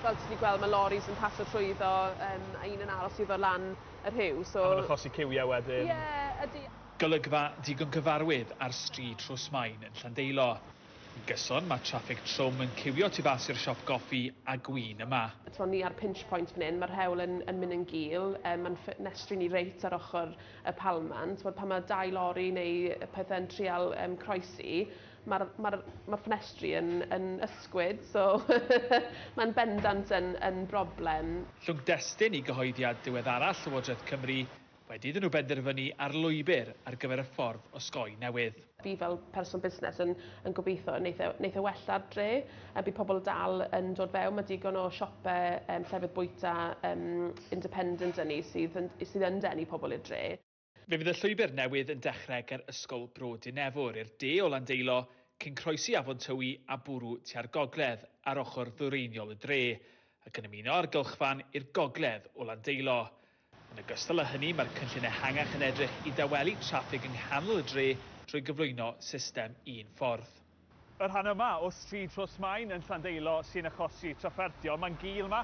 Fel ti 'di gweld ma' loris yn pasio trwyddo yym a un yn aros iddo lan y rhiw so... A ma'n achosi ciwie wedyn. Ie ydi. Golygfa digon cyfarwydd ar stryd Rhosmaen yn Llandeilo. Yn gyson, mae traffig trwm yn ciwio tu fas i'r siop goffi a gwin yma. T'mo ni ar pinch point fan 'yn ma'r rhewl yn yn myn' yn gul yy ma'n ffenestri ni reit ar ochor y palmant t'mod pan ma' dau lori neu yy pethe'n trial yym croesi Mae'r ma'r ma'r ffenestri yn yn ysgwyd so mae'n bendant yn yn broblem. Llwgdestun i gyhoeddiad diweddaraf Llywodraeth Cymru wedi iddyn nhw benderfynu ar lwybr ar gyfer y ffordd osgoi newydd. Fi fel person busnes yn yn gobeithio neith e neith e wella'r dre a bydd pobl dal yn dod fewn ma' digon o siope yym llefydd bwyta yym independent 'da ni sydd yn sydd yn denu pobl i'r dre. Fe fydd y llwybr newydd yn dechrau ger Ysgol Bro Dinefwr i'r de o Landeilo, cyn croesi Afon Tywi a bwrw tua'r gogledd ar ochr ddwyreiniol y dre, ac yn ymuno â'r gylchfan i'r gogledd o Landeilo. Yn ogystal â hynny, mae'r cynllun ehangach yn edrych i dawelu traffig yng nghanol y dre trwy gyflwyno system un ffordd. Y rhan yma o stryd Rhosmaen yn Llandeilo sy'n achosi trafferthion. Mae'n gul yma.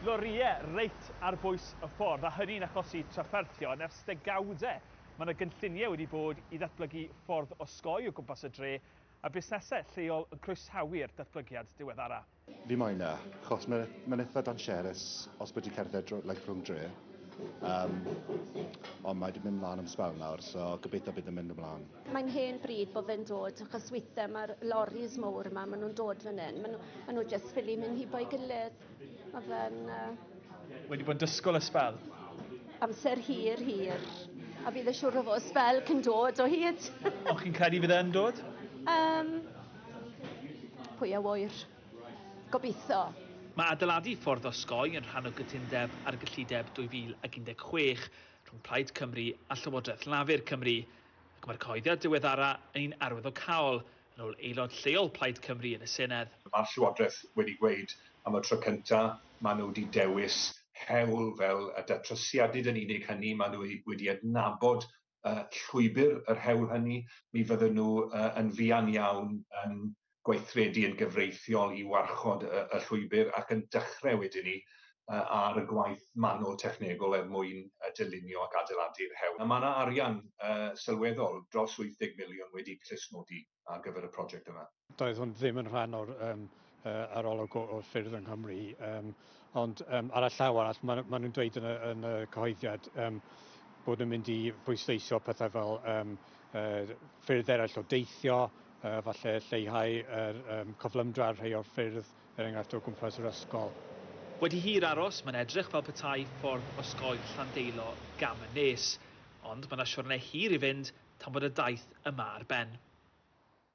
Lorïau reit ar bwys y ffordd, a hynny'n achosi trafferthion ers degawdau. Mae yna gynlluniau wedi bod i ddatblygu ffordd osgoi o gwmpas y dre, a busnesau lleol yn croesawu'r datblygiad diweddara. Fi moyn e, chos ma' ma'n itha dansiarus os bo' ti cerdded dro- like rhwng dre. Yym ond mae 'di mynd mlan am sbel nawr so gobeithio bydd yn mynd yn mlan. Mae'n hen bryd bo' fe'n dod achos withe ma'r loris mowr 'ma ma' nw'n dod fan 'yn ma' n'w ma' n'w jyst ffili myn' hibo'i gilydd. Ma' fe'n yy. Wedi bod yn dysgwl y sbel? Amser hir hir. A bydd y siŵr o fo' sbel cyn dod o hyd. Ond chi'n credu fydd e yn dod? Yym. Pwy a ŵyr? Gobeithio. Mae adeiladu ffordd osgoi yn rhan o gytundeb ar gyllideb 2016 rhwng Plaid Cymru a Llywodraeth Lafur Cymru, ac mae'r cyhoeddiad diweddara yn un arwyddocaol, yn ôl aelod lleol Plaid Cymru yn y Senedd. Mae'r Llywodraeth wedi gweud am y tro cyntaf maen nhw wedi dewis hewl fel y datrysiadyd yn unig hynny, maen nhw wedi adnabod uh, llwybr yr hewl hynny, mi fydden nhw uh, yn fuan iawn yn gweithredu yn gyfreithiol i warchod y, y llwybr ac yn dechrau wedyn ni uh, ar y gwaith manwl technegol er mwyn uh, dylunio ac adeiladu'r hewl. A mae yna arian uh, sylweddol dros 80 miliwn wedi clustnodi ar gyfer y prosiect yma. Doedd hwn ddim yn rhan o'r um, uh, arolwg o, o ffyrdd yng Nghymru, um, ond um, ar y llaw arall, maen ma nhw'n dweud yn y, yn y cyhoeddiad um, bod nhw'n mynd i bwysleisio pethau fel um, uh, ffyrdd eraill o deithio, uh, falle lleihau yr um, coflymdra ar rhai o'r ffyrdd, er enghraifft o gwmpas yr ysgol. Wedi hir aros, mae'n edrych fel petai ffordd osgoi Llandeilo gam y nes. Ond mae 'na siwrne hir i fynd tan bod y daith yma ar ben.